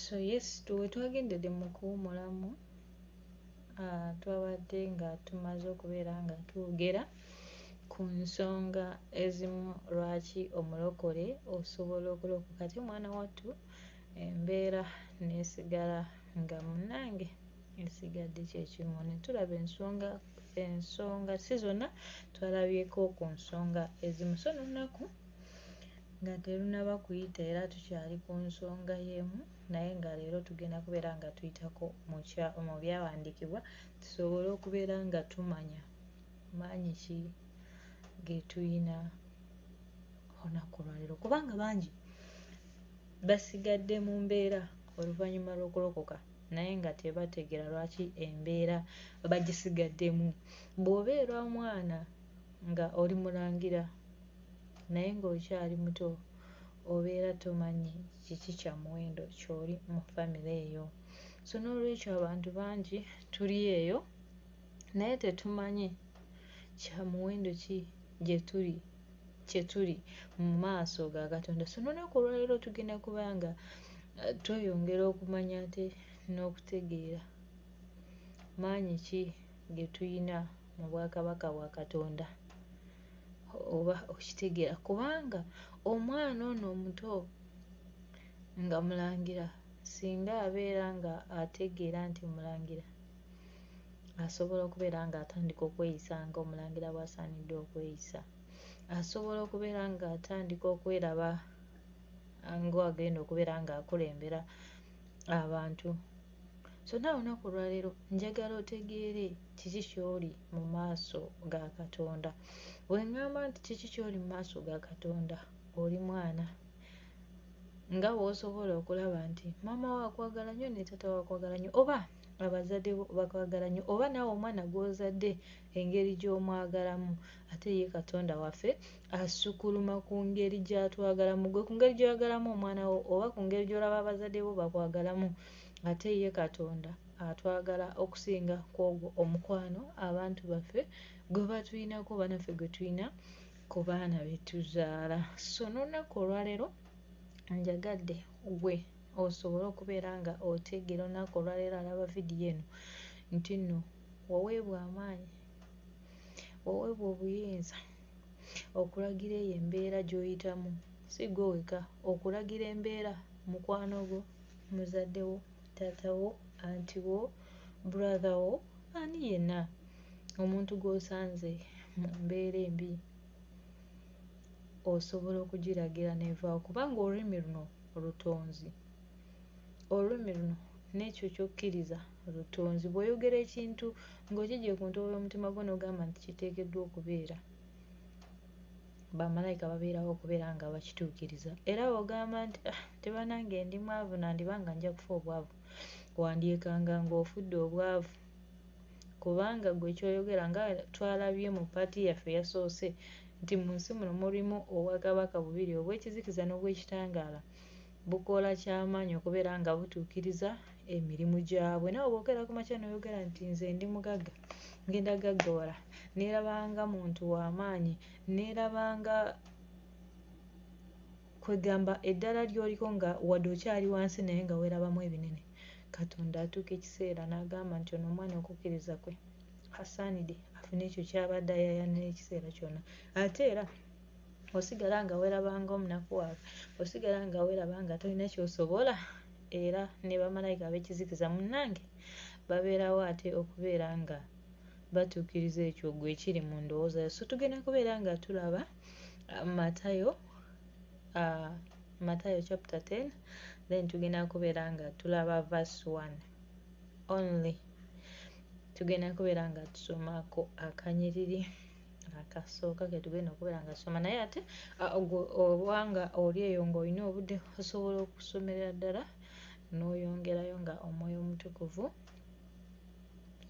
so yes wetwagendedde mu kuwumulamu uh, twabadde nga tumaze okubeera nga twogera ku nsonga ezimu lwaki omulokole osobola okulokoka ti omwana wattu embeera nesigala nga munange esigadde kyekimu netulaba ensonga ensonga si zonna twalabyeko ku nsonga ezimu so nolunaku Nga terunaba kuyita era tukyali ku nsonga yemu naye nga leero tugenda kubeera nga tuyitako mu byawandiikibwa tusobole okubeera nga tumanya maanyi ki getuyina olunaku olwaleero kubanga bangi basigadde mu mbeera oluvannyuma lw'okulokoka naye nga tebategeera lwaki embeera bagisigaddemu bw'obeera omwana nga oli mulangira naye ng'okyali muto obeera tomanyi kiki kya muwendo ky'oli mu famire eyo so n'olwekyo abantu bangi tuli eyo naye tetumanyi kya muwendo ki gye tuli kye tuli mu maaso ga katonda so n'olunaku olwaleero tugenda kuba nga eh, tweyongera okumanya ate n'okutegeera maanyi ki ge tulina mu bwakabaka bwa katonda oba okitegeera kubanga omwana ono omuto nga mulangira singa abeera nga ategeera nti mulangira asobola okubeera nga atandika okweyisa nga omulangira bwasaanidde okweyisa asobola okubeera nga atandika okweraba ng'agenda okubeera ng'akulembera abantu So naawe olunaku olwaleero njagala otegeere kiki ky'oli mu maaso ga Katonda. Bwe ŋŋamba nti kiki ky'oli mu maaso ga Katonda, oli mwana nga w'osobola okulaba nti maama wo akwagala nnyo ne taata wo akwagala nnyo oba abazadde bo bakwagala nnyo oba naawe omwana gw'ozadde engeri gy'omwagalamu ate ye katonda waffe asukuluma ku ngeri gy'atwagalamu gwe ku ngeri gy'oyagalamu omwana wo oba ku ngeri gy'olaba abazadde bo bakwagalamu ate ye katonda atwagala okusinga kwogwo omukwano abantu baffe gwe batulinako banaffe gwe tulina ku baana betuzaala so n'olunaku olwaleero njagadde gwe osobole okubeera nga otegeera olunaku olwaleero alaba vidiyo eno nti nno waweebwa amaanyi, waweebwa obuyinza okulagira eyo embeera gy'oyitamu si ggwe wekka okulagira embeera mukwano gwo, muzadde wo, taata wo, anti wo, brother wo ani yenna omuntu gw'osanze mu mbeera embi osobola okugiragira n'evaawo kubanga olulimi luno lutonzi, olulimi luno n'ekyo ky'okkiriza. Obutonzi. Bw'oyogera ekintu ng'okiggye ku ntobo y'omutima gwo n'ogamba nti kiteekeddwa okubeera, bamalayika babeerawo okubeera nga bakituukiriza. Era bw'ogamba nti ah, nti banange ndi mwavu nandiba nga nja kufa obwavu, wandyekanga ng'ofudde obwavu kubanga gwe kyoyogera nga twalabye mu paati yaffe yasoose nti mu nsi muno mulimu obwakabaka bubiri obw'ekizikiza n'obw'ekitangaala bukola kyamaanyi okubeera nga butuukiriza emirimu gyabwe nawe bwogera kumakya noyogera nti nze ndi mugagga ngenda gaggawala nerabanga muntu wamaanyi nerabanga kwegamba eddala lyoliko nga wadde okyali wansi naye nga werabamu ebinene katonda atuuka ekiseera nagamba nti ono omwana okukkiriza kwe asaanide afune ekyo kyabadde ayayanira ekiseera kyonna ate era osigala nga weraba nga omunakuwaavu osigala nga weraba nga tolina kyosobola era ne bamalayika ab'ekizikiza munnange babeerawo ate okubeera nga batuukiriza ekyo gwe ekiri mu ndowooza yo so tugenda kubeera nga tulaba uh, matayo uh, matayo chapter 10 then tugenda kubeera nga tulaba verse 1 only tugenda kubeera nga tusomako akanyiriri akasooka ketugenda okubeera nga soma naye ate obanga oli eyo ngaolina obudde osobola okusomerera ddala n'oyongerayo nga omwoyo omutukuvu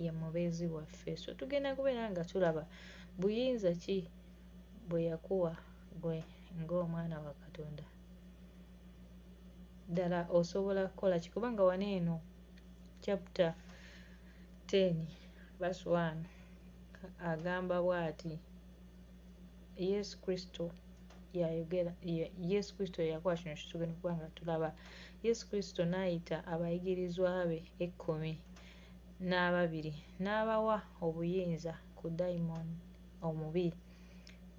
ye mubeezi waffe so tugenda kubeera nga tulaba buyinza ki bwe yakuwa gwe ng'omwana wa katonda ddala osobola kukola ki kubanga wano eno chapter 10 verse 1 agamba bwati yesu kristo yayogera yesu kristo yeyakola kino kitugenda okuba nga tulaba yesu kristo n'ayita abayigirizwa be ekkumi n'ababiri n'abawa obuyinza ku dayimooni omubi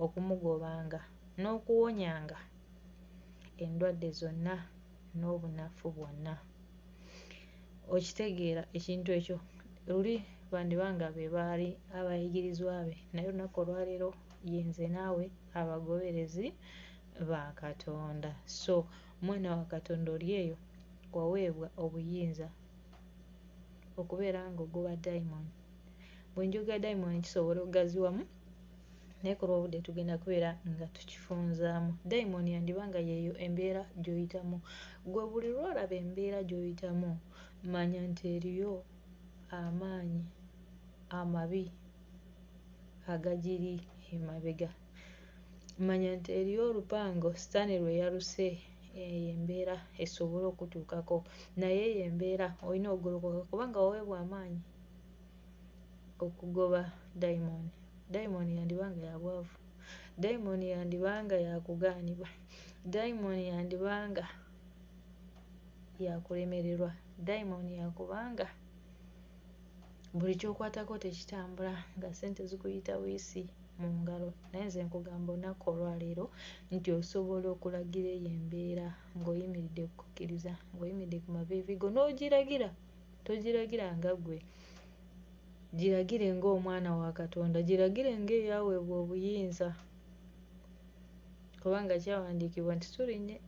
okumugobanga n'okuwonyanga endwadde zonna n'obunafu bwonna okitegeera ekintu ekyo luli bandiba nga be baali abayigirizwa be naye olunaku olwaleero yenze naawe abagoberezi ba katonda so mwana wa katonda oli eyo waweebwa obuyinza okubeera ng'ogoba diamond bwe njoga diamond kisobola okugaziwamu naye kuba obudde tugenda kubeera nga tukifunzaamu dayimoni yandiba nga yeeyo embeera gyoyitamu gwe buli lwolaba embeera gyoyitamu manya nti eriyo amaanyi amabi agagiri emabega manya nti eriyo olupango sitaani lwe yaluse eyo embeera esobole okutuukako naye eyo embeera olina okugolokoka kubanga waweebwa amaanyi okugoba dayimooni dayimooni yandiba nga ya bwavu dayimooni yandiba nga yakugaanibwa dayimooni yandiba nga yakulemererwa dayimooni yakubanga buli kyokwatako tekitambula nga sente zikuyita wiisi mu ngalo naye nze nkugamba olunaku olwaleero nti osobola okulagira eyo embeera ng'oyimiridde kukkiriza ng'oyimiridde ku maviivigo n'ogiragira togiragira nga ggwe giragire ng'omwana wa katonda giragire ng'eyaweebwa obuyinza kubanga kyawandiikibwa nti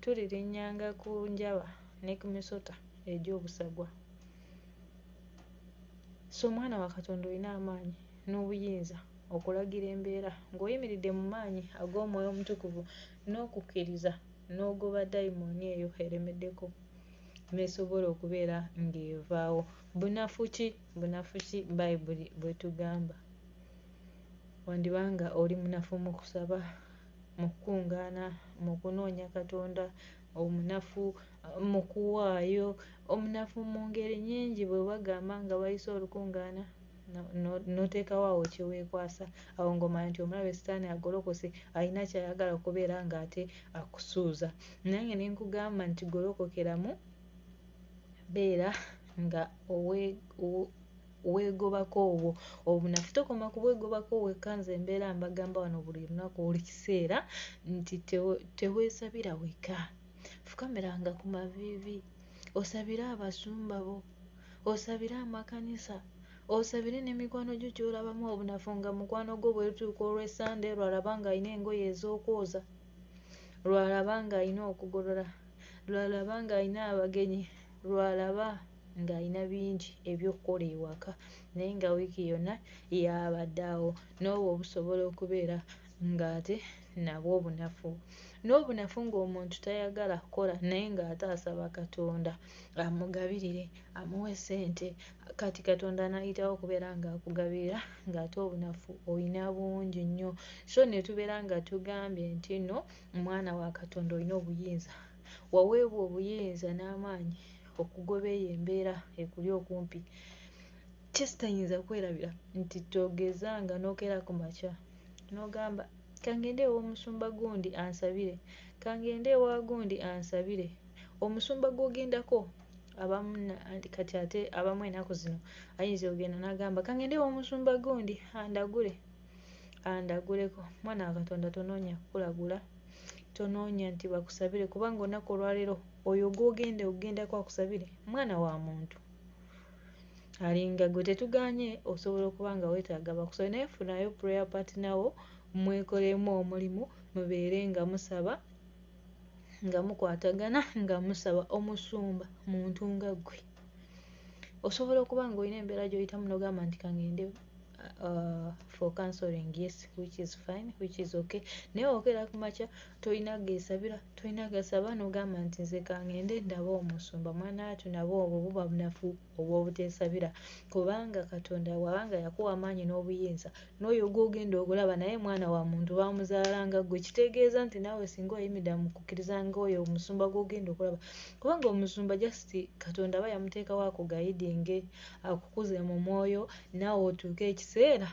tulirinnyanga ku njaba ne ku misota egy'obusagwa so omwana wa katonda olina amaanyi n'obuyinza okulagira embeera ng'oyimiridde mu maanyi ag'omwoyo omutukuvu n'okukkiriza n'ogoba dayimooni eyo eremeddeko n'esobola okubeera ng'evaawo. Bunafu ki? Bunafu ki Bayibuli bw'etugamba? Wandiba nga oli munafu mu kusaba, mu kukuŋŋaana, mu kunoonya Katonda, omunafu mu kuwaayo, omunafu mu ngeri nnyingi bwe bagamba nga bayise olukuŋŋaana. noteekawo awo kyeweekwasa awo ng'omanya nti omulabe sitaani agolokose alina kyayagala okubeera ng'ate akusuuza nange ne nkugamba nti golokokeramu beera nga weegobako obwo obunafu tokoma kubwegobako wekka nze embeera mbagamba wano buli lunaku buli kiseera nti teweesabira wekka fukamiranga ku maviivi osabire abasumba bo osabire amakanisa osabire ne mikwano gyo kyolabamu obunafu nga mukwano gwo bwerutuuka olwesande lwalaba nga alina engoye ez'okwoza lwalaba nga alina okugolola lwalaba nga alina abagenyi lwalaba ng'alina bingi ebyokukola ewaka naye nga wiiki yonna yabadde awo n'obwo obusobola okubeera ng'ate nabwo obunafu n'obunafu ng'omuntu tayagala kukola naye ng'ate asaba katonda amugabirire amuwe sente kati katonda anayitawo okubeera nga akugabirira ngaate obunafu olina bungi nnyo so netubeera nga tugambye nti no mwana wa katonda olina obuyinza waweebwa obuyinza n'amaanyi okugoba eyo embeera ekuli okumpi kisitayinza kwerabira nti togeza nga nokera ku makya nogamba kangende ewomusumba gundi ansabire kangende ewa gundi ansabire omusumba gwogendako abamu kati ate abamu enaku zino ayinza ogenda nagamba kangende womusumba gundi andagule andaguleko mwana wa katonda tonoonya kukulagula tonoonya nti bakusabire kubanga onaku olwaleero oyo gwogenda okugendako akusabire mwana wa muntu alinga gwe tetuganye osobola okuba nga wetaaga bakusabire naye funayo prayer patinawo mwekolemu omulimu mubeere nga musaba nga mukwatagana nga musaba omusumba muntu nga ggwe osobola okuba ng'olina embeera gy'oyitamu n'ogamba nti kangende uh, for counseling yes which is fine which is okay naye okera kumakya tolina gesabira tolina gasaba n'ogamba nti nze kangende ndaba omusumba mwana watu nabo obwo buba bunafu obw'obuteesabira kubanga katonda waba nga yakuwa amaanyi n'obuyinza n'oyo gw'ogenda okulaba naye mwana wa muntu baamuzaala nga ggwe kitegeeza nti naawe singa oyimida mu kukkiriza ngaoyo omusumba gw'ogenda okulaba kubanga omusumba just katonda aba yamuteekawo akugayidinge akukuze mu mwoyo naawe otuuke ekiseera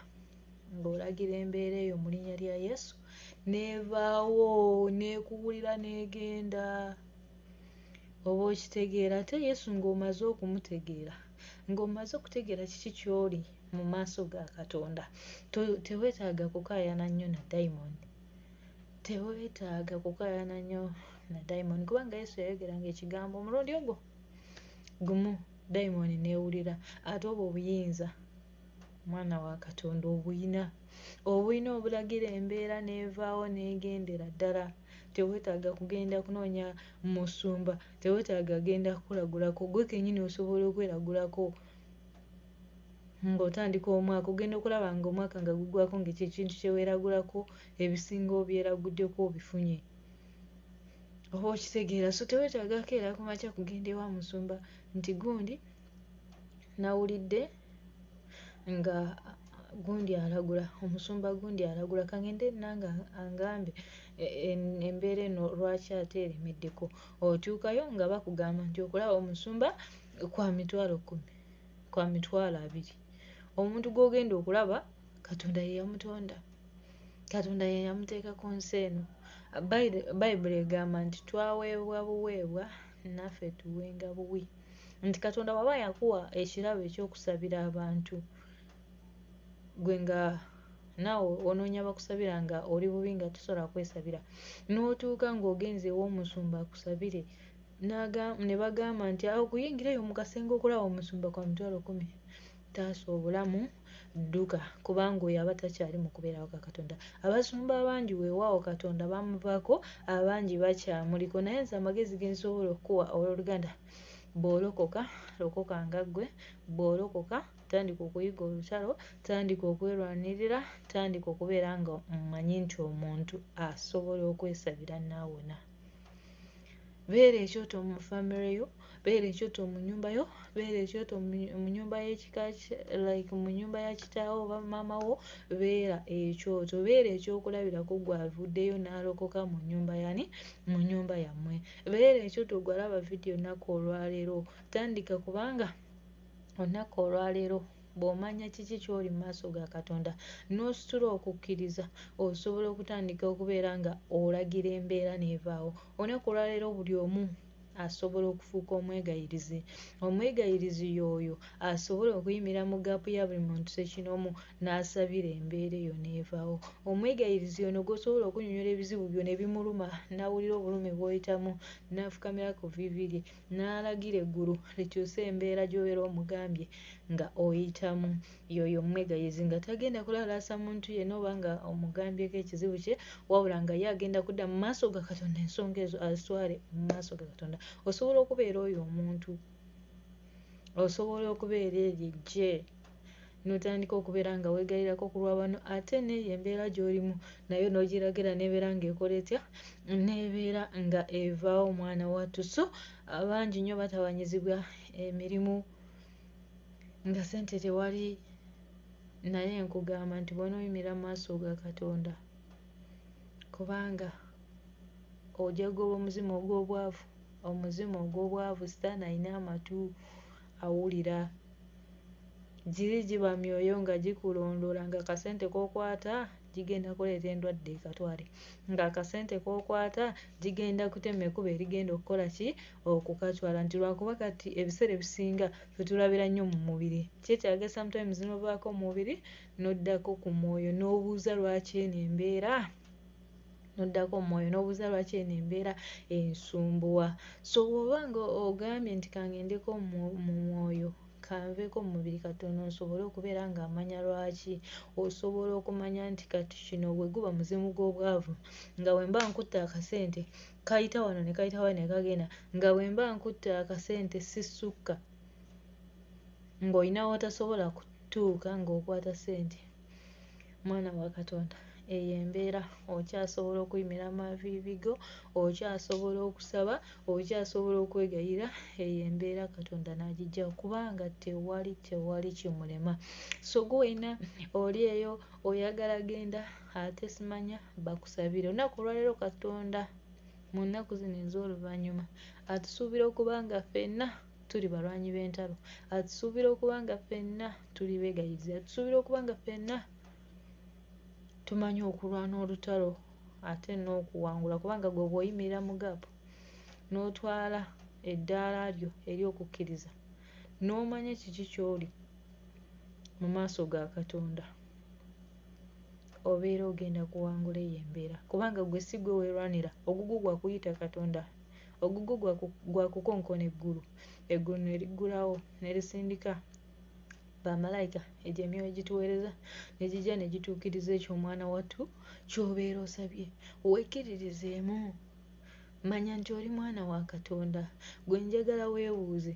ng'olagira embeera eyo mu linnya lya yesu neevaawo neekuwulira neegenda oba okitegeera ate yesu ng'omaze okumutegeera ng'omaze okutegeera kiki kyoli mu maaso ga katonda tewetaaga kukaayana nnyo na diamond tewetaaga kukaayana nnyo na diamond kubanga yesu yayogeranga ekigambo omulundi ogwo gumu diamond newulira ate obwo obuyinza mwana wa katonda obuyina obuyina obulagira embeera n'evaawo n'egendera ddala tewetaaga kugenda kunoonya musumba tewetaaga genda kukulagulako gwe kenyini osobola okweragulako ng'otandika omwaka ogenda okulaba nga omwaka nga gugwako nga ekyo ekintu kyeweragulako ebisinga obyeraguddeko obifunye oba okitegeera so tewetaaga keera kumakya kugenda ewa musumba nti gundi nawulidde nga gundi alagula omusumba gundi alagula kangende nange angambe e, e, embeera eno lwaki ate eremeddeko otuukayo nga bakugamba nti okulaba omusumba kwa mitwalo kumi kwa mitwalo abiri omuntu gwogenda okulaba katonda yeyamutonda katonda yeyamuteeka ku nsi eno bayibuli egamba nti twaweebwa buweebwa naffe tuwenga buwi nti katonda waba yakuwa ekirabo ekyokusabira abantu gwe nga naawe onoonya bakusabira nga oli bubi nga tosobola kwesabira n'otuuka ng'ogenze ew'omusumba akusabire ne bagamba nti awo kuyingirayo mu kasenge okulaba omusumba kwa mitwalo kumi Taasa obulamu, dduka, kubanga oyo aba takyali mu kubeerawo ka Katonda. Abasumba abangi weewaawo Katonda bamuvako, abangi bakyamuliko, naye nze amagezi ge nsobola okukuwa ow'oluganda, bw'olokoka, lokoka nga ggwe, bw'olokoka, tandika okuyiga olutalo, tandika okwerwanirira, tandika okubeera nga omanyi nti omuntu asobola okwesabira n'awona. beera ekyoto mu famire yo beera ekyoto mu nyumba yo beera ekyoto mu nyumba yekika like mu nyumba ya kitaawo oba maama wo beera ekyoto beera ekyokulabirako gwavuddeyo n'alokoka mu nyumba yani mu nyumba yammwe beera ekyoto gwalaba vidiyo nnaku olwaleero tandika kubanga onnaku olwaleero bw'omanya kiki ky'oli mu maaso ga katonda n'ositula okukkiriza osobola okutandika okubeera nga olagira embeera n'evaawo olunaku olwaleero buli omu asobola okufuuka omwegayirizi omwegayirizi yooyo asobola okuyimira mu gaapu ya buli muntu sekinomu n'asabira embeera eyo n'evaawo omwegayirizi ono gwosobola okunyonyola ebizibu byo ne bimuluma n'awulira obulumi bw'oyitamu n'afukamira ku vivi lye n'alagira eggulu likyuse embeera gy'obeera omugambye nga oyitamu yoyo omwegayezi nga tagenda kulalaasa muntu yenna oba nga omugambyeko ekizibu kye wabula nga ye agenda kudda mu maaso ga katonda ensonga ezo azitwale mu maaso ga katonda osobola okubeera oyo omuntu osobola okubeera eryo ejje n'otandika okubeera nga weegayirako ku lwa bano ate n'eyo embeera gy'olimu nayo n'ogiragira n'ebeera ng'ekola etya n'ebeera nga evaawo mwana wattu so abangi nnyo batawanyizibwa emirimu nga sente tewali naye nkugamba nti bw'onooyimira mu maaso ga katonda kubanga ojagoba omuzimu ogw'obwavu omuzimu ogw'obwavu sitaani alina amatu awulira. Giri giba myoyo nga gikulondoola nga akasente k'okwata gigenda kuleeta endwadde ekatwale nga akasente k'okwata gigenda kutema ekuba erigenda okukola ki okukatwala nti lwakuba kati ebiseera ebisinga fetulabira nnyo mu mubiri kyetyaga sometimes novaako mu mubiri n'oddako ku mwoyo n'obuuza lwaki eno embeera noddako mumwoyo nobuuza lwaki eno embeera ensumbuwa so woba nga ogambye nti kangendeko mumwoyo kanveeko mumubiri katono nsobole okubeera nga amanya lwaki osobola okumanya nti kati kino weguba muzimu gw'obwavu nga wemba nkutte akasente kayita wano ne kayita wano ne kagenda nga wemba nkutte akasente sisukka ng'olina watasobola kutuuka ng'okwata sente mwana wa katonda eyo embeera okyasobola okuyimira amaviivi go okyasobola okusaba okyasobola okwegayira eyo embeera katonda n'agijja kubanga tewali tewali kimulema so gwe wena oli eyo oyagala genda ate simanya bakusabire olunaku olwaleero katonda mu nnaku zino ez'oluvannyuma atusuubira okuba nga fenna tuli balwanyi b'entalo atusuubira okuba nga ffenna tuli beegayizi atusuubira okuba nga ffenna tumanyi okulwana olutalo ate n'okuwangula kubanga gwe bwoyimirira mu gaapu n'otwala eddaala lyo eri okukkiriza n'omanya ekiki ky'oli mu maaso ga katonda obeera ogenda kuwangula eyo embeera kubanga gwe si gwe weerwanira ogugwo gwakuyita katonda ogugwo gwa kukonkona eggulu eggulu ne liggulawo ne lisindika bamalayika egyo emyoyo gituweereza ne gijja ne gituukiriza ekyo omwana wattu ky'obeera osabye wekkiririzeemu manya nti oli mwana wa katonda gwe njagala weebuuze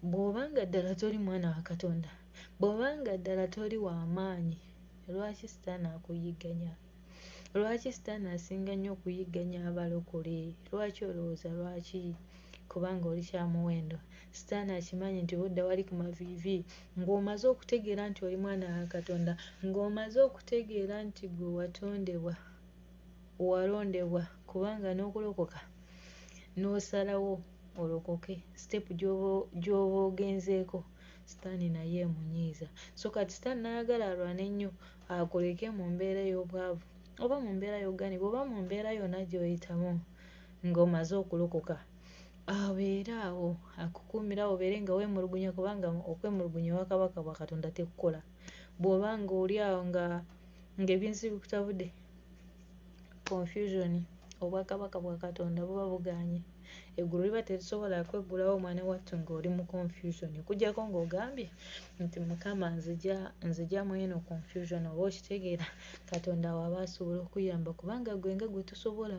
bw'oba nga ddala toli mwana wa katonda bw'oba nga ddala toli wa maanyi lwaki sitaani akuyigganya lwaki sitaani asinga nnyo okuyigganya abalokole lwaki olowooza lwaki kubanga oli kyamuwendo sitaani akimanyi nti bwodda wali ku maviivi ng'omaze okutegeera nti oli mwana wa katonda ng'omaze okutegeera nti gwe watondebwa walondebwa kubanga n'okulokoka n'osalawo olokoke sitepu gy'oba ogenzeeko sitaani naye emunyiiza so kati sitaani n'ayagala alwane nnyo akuleke mu mbeera ey'obwavu oba mu mbeera y'oganibwa oba mu mbeera yonna gy'oyitamu ng'omaze okulokoka abeere awo akukuumira awo obeere nga weemulugunya kubanga okwemulugunya wa kabaka bwa katonda tekukola bw'oba ng'oli awo nga ng'ebinsi bikutabudde confusion obwakabaka bwa katonda buba buganye eggulu liba terisobola kweggulawo omwana wattu ng'oli mu confusion okujjako ng'ogambye nti mukama nzija nzija mweno confusion oba okitegeera katonda waba asobola okuyamba kubanga gwe nga gwe tosobola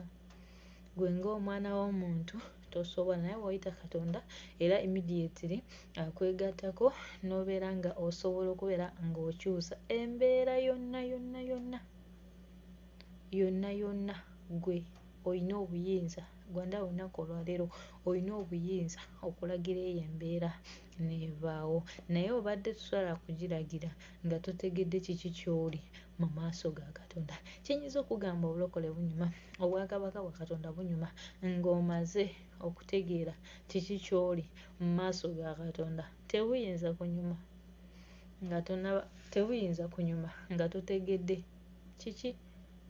gwe ng'omwana w'omuntu tosobola naye woyita katonda era immediately akwegattako n'obeera nga osobola okubeera ng'okyusa embeera yonna yonna yonna yonna yonna ggwe olina obuyinza Rwanda olunaku olwaleero olina obuyinza okulagira eyo embeera n'evaawo naye obadde tosobola kugiragira nga totegedde kiki ky'oli mu maaso ga Katonda kye nnyinza okugamba obulokole bunyuma obwakabaka bwa Katonda bunyuma ng'omaze okutegeera kiki ky'oli mu maaso ga Katonda tebuyinza kunyuma. nga tonaba tebuyinza kunyuma nga totegedde kiki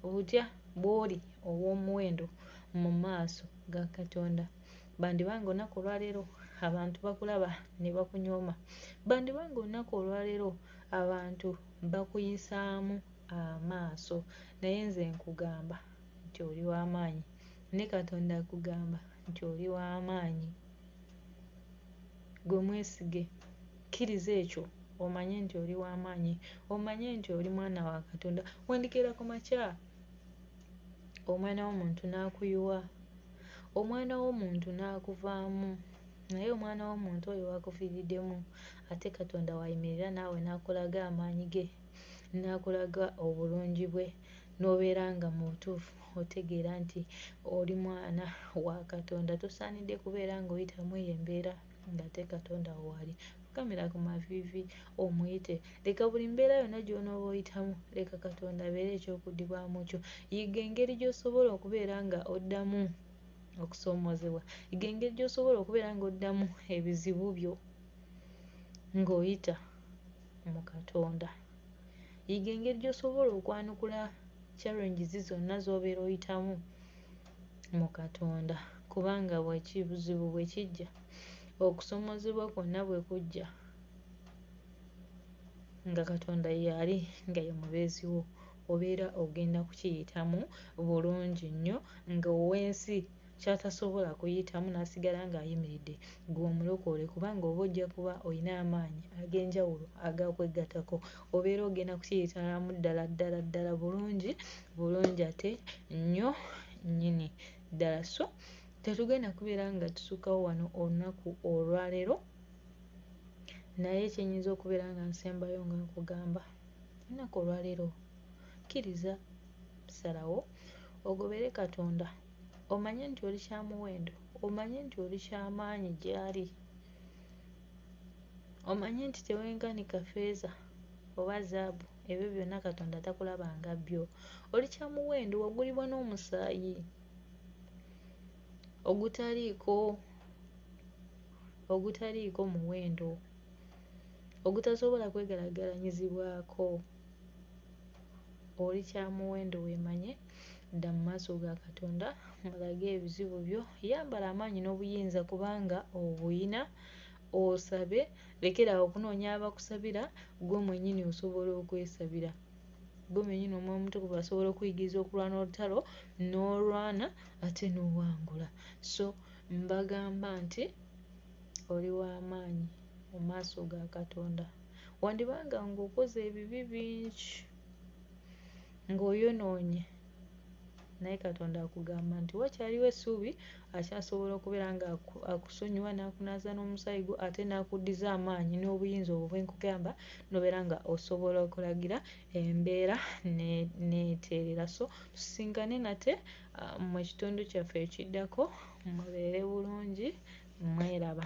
otya bw'oli ow'omuwendo mu maaso ga katonda bandiba nga olunaku olwaleero abantu bakulaba ne bakunyooma bandiba nga olunaku olwaleero abantu bakuyisaamu amaaso naye nze nkugamba nti oli w'amaanyi ne katonda akugamba nti oli w'amaanyi gwe mwesige Kkiriza ekyo, omanye nti oli wa maanyi. Omanye nti oli mwana wa Katonda. Wandikira ku makya, omwana w'omuntu n'akuyiwa, omwana w'omuntu n'akuvaamu, naye omwana w'omuntu oyo wakufiiriddemu, ate Katonda wayimirira naawe n'akulaga amaanyi ge, n'akulaga obulungi bwe, n'obeera nga mu butuufu otegeera nti oli mwana wa Katonda. Tosaanidde kubeera ng'oyitamu eyo embeera. ng'ate katonda wo waali fukamira ku maviivi omuyite leka buli mbeera yonna gy'onooba oyitamu leka katonda abeere eky'okuddibwamu kyo yiga engeri gy'osobola okubeera nga oddamu okusoomoozebwa yiga engeri gy'osobola okubeera nga oddamu ebizibu byo ng'oyita mu katonda yiga engeri gy'osobola okwanukula challenges zonna z'obeera oyitamu mu Katonda, kubanga bw'ekibuzibu bwe kijja, okusomozebwa kwonna bwe kujja, nga Katonda y'ali nga ye mubeezi wo, obeera ogenda kukiyitamu bulungi nnyo nga ow'ensi ky'atasobola kuyitamu n'asigala ng'ayimiridde ggwe omulokole kubanga oba ojja kuba olina amaanyi ag'enjawulo agakwegatako. obeera ogenda kukiyitalamu ddala ddala ddala bulungi bulungi ate nnyo nnyini ddala so tetugenda kubeera nga tusukkawo wano olunaku olwaleero naye kyenyinza okubeera nga nsembayo nga nkugamba olunaku olwaleero kkiriza salawo ogobere katonda omanye nti oli kyamuwendo omanye nti oli kyamaanyi gyali Omanyi nti tewenkanika ffeeza oba zaabu, ebyo byonna Katonda takulaba nga byo. Oli kya muwendo, wagulibwa n'omusaayi ogutaliiko ogutaliiko muwendo, ogutasobola kwegeraageranyizibwako. oli kyamuwendo weemanye dda mu maaso ga katonda mulage ebizibu byo yambala amaanyi n'obuyinza kubanga obuyina osabe lekerawo okunoonya abakusabira gwe mwenyini osobola okwesabira gwe mwenyini omwoyo omutukuvu asobola okuyigiriza okulwana olutalo n'olwana ate n'owangula so mbagamba nti oli w'amaanyi mu maaso ga katonda wandibanga ng'okoze ebibi bingi ng'oyonoonye naye katonda akugamba nti wakyaliwo essuubi akyasobola okubeera nga akusonyiwa n'akunaaza n'omusaayi gwo ate n'akuddiza amaanyi n'obuyinza obwo bwe nkugamba n'obeera nga osobola okulagira embeera n'eteerera so tusisinkane nate ah, mu kitundu kyaffe ekiddako mubeere bulungi mweraba